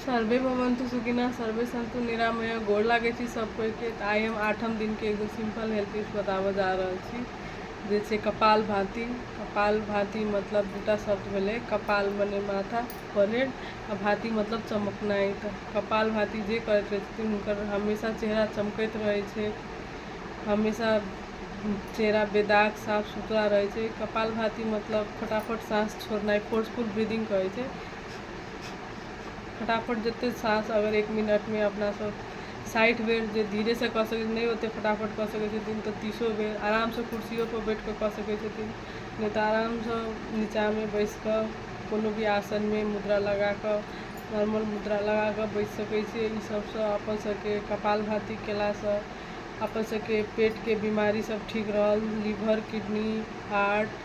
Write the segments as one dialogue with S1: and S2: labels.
S1: survey भवन्तु सुखिना सर्वे संतु निरामय गोर लागै छी सब कोई के तऽ आइ हम आठम दिन के एगो सिंपल हेल्थ टिप्स बताबऽ जा रहल छी जे छै कपाल भाती कपाल भाती मतलब दूटा शब्द भेलै कपाल मने माथा परेड आ भाती मतलब चमकनाइ तऽ कपाल भाती जे करैत रहै छथिन हुनकर हमेशा चेहरा चमकैत रहै छै हमेशा चेहरा बेदाग साफ सुथरा रहै छै कपाल भाती मतलब फटाफट साँस छोड़नाइ फोर्सफुल ब्रीदिंग कहै छै फटाफट जतेक साँस अगर एक मिनटमे अपनासँ साठि बेर जे धीरेसँ कऽ सकै नहि ओतेक फटाफट कऽ सकै छथिन तऽ तीसो बेर आरामसँ कुर्सियोपर बैठि कऽ कऽ सकै छथिन नहि तऽ आरामसँ नीचाँमे बैसि कऽ कोनो भी आसनमे मुद्रा लगा कऽ नॉर्मल मुद्रा लगा कऽ बैसि सकै छी एहि सभसँ अपन सभके कपालभाति कयलासँ अपन सभके पेटके बीमारी सभ ठीक रहल लीवर किडनी हार्ट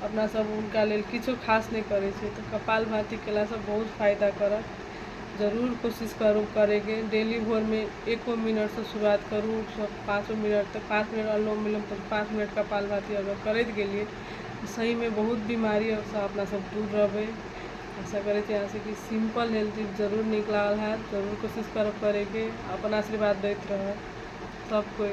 S1: अपना सब हुनका लेल किछो खास नहि करै छै तऽ कपाल भाती केलासँ बहुत फायदा करत जरूर कोशिश करू करैके डेली भोरमे एको मिनटसँ शुरुआत करू पाँचो मिनट तक पाँच मिनट अनुलोम विलोम करू पाँच मिनट कपाल भाती अगर करैत गेलियै तऽ सहीमे बहुत बीमारीसँ अपना सब दूर रहबै आशा करै छी अहाँसँ कि सिंपल हेल्थ टिप जरूर नीक लागल हैत जरूर कोशिश करब करैके अपन आशीर्वाद दैत रहब सब कोइ